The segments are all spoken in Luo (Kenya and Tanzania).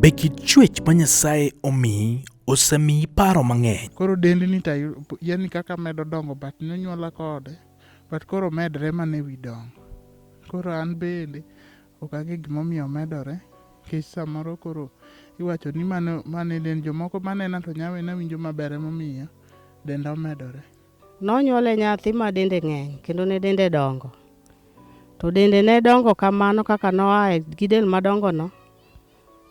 Be kit chuech ma Nyasaye omiyi osemiyi paro mang'eny? Koro dendni to yani kaka medo dongo but nonyuola kode but koro medre mana ewi dongo. Koro an bende Ok ang'e gima omiyo omedore nikech samoro koro iwacho ni mano mano e dend jomoko manena to nyawe nawinjo maber emomiyo denda omedore. Nonyuole nyathi ma dende ng'eny kendo ne dende dongo. To dende ne dongo kamano kaka noae gi del madongono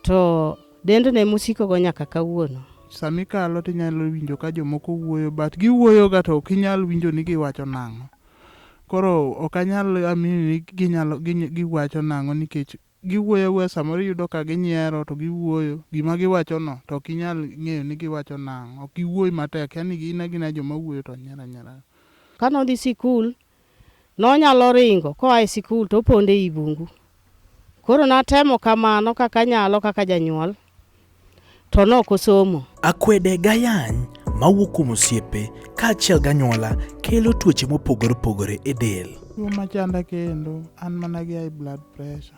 To dend ne musiko go nyaka kawuono. Sami kalo to inyalo winjo ka jomoko wuoyo but giwuoyo ga to ok inyal winjo ni giwacho nang'o. Koro ok anyal amini ni ginyalo giwacho nang'o nikech giwuoyo awuoya samoro iyudo ka ginyiero to giwuoyo gima giwacho no to ok inyal ng'eyo ni giwacho nang'o. Ok giwuoy matek yani gin agina joma wuoyo to nyiero anyiera. Kane odhi sikul Nonyalo ringo koa e sikul to opondo ei bungu. Koro natemo kamano kaka anyalo kaka janyuol, to ne ok osomo. Akwede gayany mawuok kuom osiepe kaachiel ganyuola kelo tuoche mopogore opogore e del. Tuo machanda kendo an mana gi high blood pressure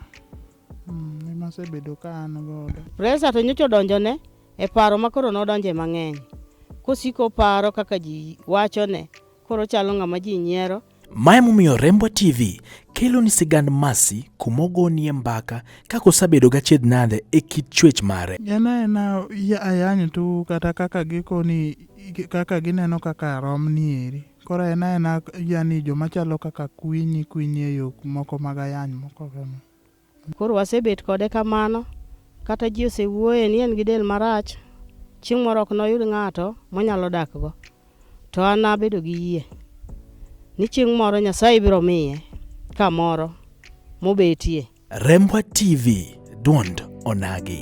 mm, ema asebedo ka an godo. Pressure to nyocha odonjone e paro ma koro nodonje mang'eny, kosiko paro kaka ji wachone Koro chalo ng'ama ji nyiero. Ma emomiyo Rembwa TV kelo ni sigand Mercy kuma ogonie mbaka kaka osabedo gachiedh nade e kit chwech mare. En aena ya- ayany tu kata kaka gikoni kaka gineno kaka rom ni eri. Koro en aena yani joma chalo kaka kwinyi kwinyi e yo moko mag ayany moko kama. Koro wasebet kode kamano, kata ji osewuoye ni en gi del marach, chieng' moro ok noyud ng'ato monyalo dakgo. To an abedo gi yie ni chieng' moro Nyasaye biro miye kamoro mobetie. Rembwa TV, dwond onagi.